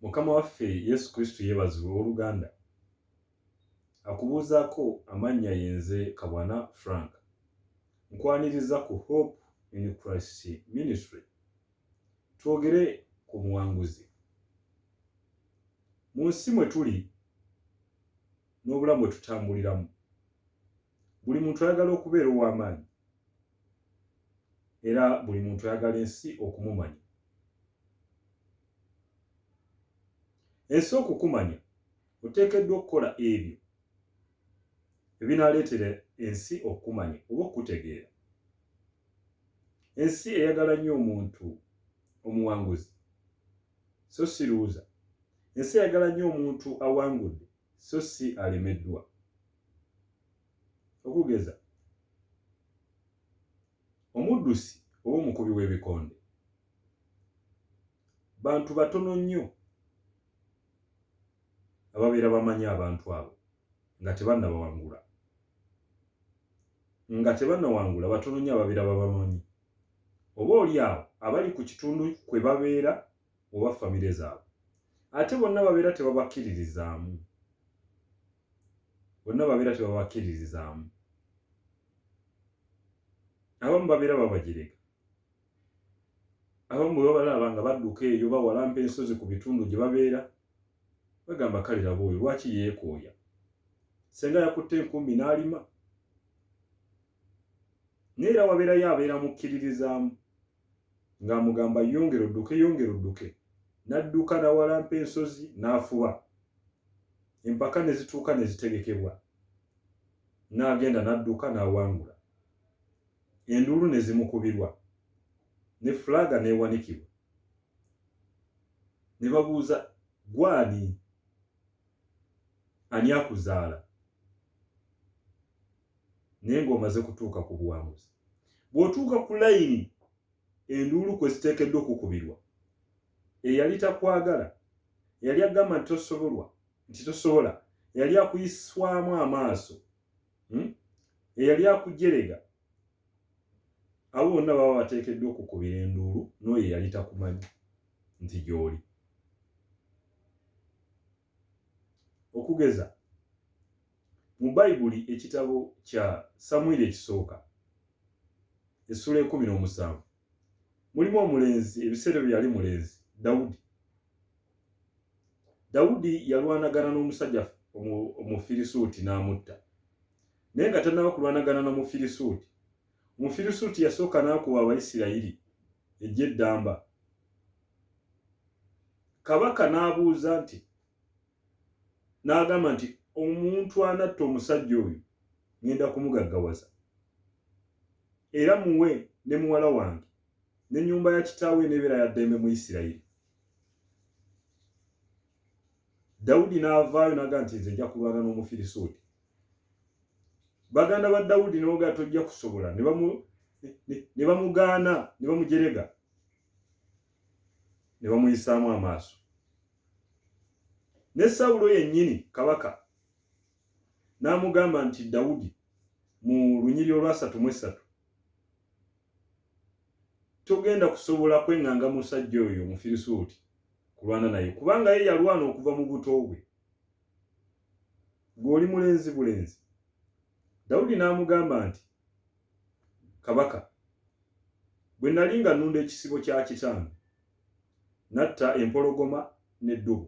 mukama waffe yesu kristo yeebazibwa owooluganda akubuuzaako amannya yenze kabwana frank nkwaniriza ku hope in christ ministry twogere ku muwanguzi mu nsi mwe tuli n'obulamu bwe tutambuliramu buli muntu ayagala okubeera ow'amaanyi era buli muntu ayagala ensi okumumanya ensi okukumanya oteekeddwa okukola ebyo ebinaaleetera ensi okukumanya oba okukutegeera ensi eyagala nnyo omuntu omuwanguzi so siruuza ensi eyagala nnyo omuntu awangudde so si alemeddwa. Okugeza, omuddusi oba omukubi w'ebikonde bantu batono nnyo ababeera bamanyi abantu abo nga tebannabawangula nga tebannawangula batono nnyo ababeera babamanyi oba oli awo abali ku kitundu kwe babeera oba famire zaabwe ate bonna babeera tebabakkiririzaamu bonna babeera tebabakkiririzaamu abamu babeera babagireka abamu bwe babalaba nga badduka eyo bawalampa ensozi ku bitundu gye babeera bagamba kale laba oyo lwaki yeekooya senga yakutte enkumbi n'alima naye era wabeerayo abeera mukkiririzaamu ng'amugamba yongera odduke yongera odduke n'adduka nawalampa ensozi n'afuba empaka ne zituuka ne zitegekebwa n'agenda n'adduka n'awangula enduulu ne zimukubirwa ne fulaga n'ewanikibwa ne babuuza gwani ani akuzaala naye ng'omaze kutuuka ku buwanguzi bw'otuuka ku layini enduulu kwe ziteekeddwa okukubirwa eyali takwagala yali agamba nti tosobolwa nti tosobola yali akuyiswamu amaaso hmm? eyali akujerega abo bonna baba bateekeddwa okukubira enduulu n'oyo eyali takumanyi nti gy'oli okugeza Mu Bayibuli, ekitabo kya Samwiri ekisooka, essula ekumi n'omusanvu, mulimu omulenzi ebiseera ebyo yali mulenzi Dawudi. Dawudi yalwanagana n'omusajja Omufirisuuti n'amutta. Naye nga tannaba kulwanagana na Mufirisuuti, Omufirisuuti yasooka n'akuba Abayisirayiri eggye eddamba. Kabaka n'abuuza nti, n'agamba nti omuntu anatta omusajja oyo ngenda kumugaggawaza era muwe ne muwala wange ne nyumba ya kitaawe enebeera ya ddembe mu isirayiri dawudi n'avaayo naga nti nze nja kulwana n'omufirisuuti baganda ba dawudi nebaga tojja kusobola ne bamugaana ne bamujerega ne bamuyisaamu amaaso ne sawulo yennyini kabaka n'amugamba nti dawudi mu lunyiri olwasatu mu essatu togenda kusobola kweŋŋanga musajja oyo omufirisuuti kulwana naye kubanga ye yalwana okuva mu buto bwe gweoli mulenzi bulenzi dawudi n'amugamba nti kabaka bwe nali nga nunda ekisibo kya kitange n'atta empologoma n'eddubu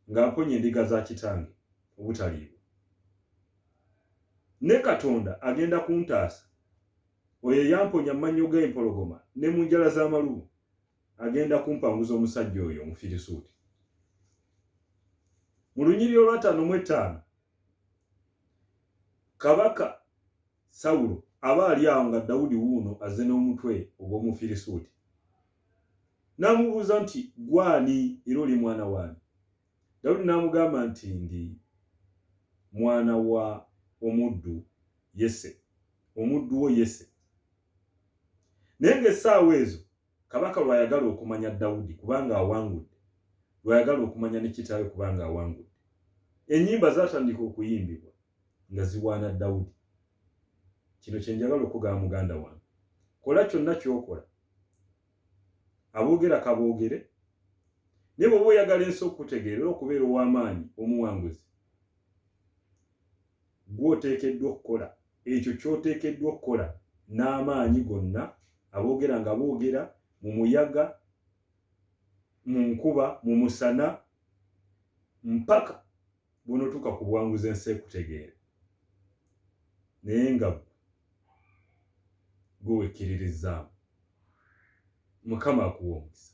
ng'amponya endiga za kitange obutaliibwa. Ne Katonda agenda kuntaasa, oyo eyamponya mu mannyo g'empologoma ne mu njala z'amalubu, agenda kumpanguza omusajja oyo Omufirisuuti. Mu lunyiriri olwataano mu ettaano, kabaka Sawulo aba ali awo nga Dawudi wuuno azze n'omutwe ogw'Omufirisuuti. N'amubuuza nti, Ggwe ani era oli mwana waani? Dawudi n'amugamba nti, Ndi mwana wa omuddu Yese, omuddu wo Yese. Naye ng'essaawa ezo Kabaka lw'ayagala okumanya Dawudi kubanga awangudde, lw'ayagala okumanya ne kitaawe kubanga awangudde. Ennyimba zaatandika okuyimbibwa nga ziwaana Dawudi. Kino kye njagala okugaba muganda wange. Kola kyonna ky'okola. Aboogera kaboogere. Naye bw'oba oyagala ensi okukutegeera era okubeera ow'amaanyi omuwanguzi, Ggwe oteekeddwa okukola ekyo ky'oteekeddwa okukola n'amaanyi gonna. Aboogera nga boogera, mu muyaga, mu nkuba, mu musana, mpaka bw'onotuuka ku buwanguzi ensi ekutegeere. Naye nga ggwe, ggwe wekkiririzaamu. Mukama akuwe omukisa.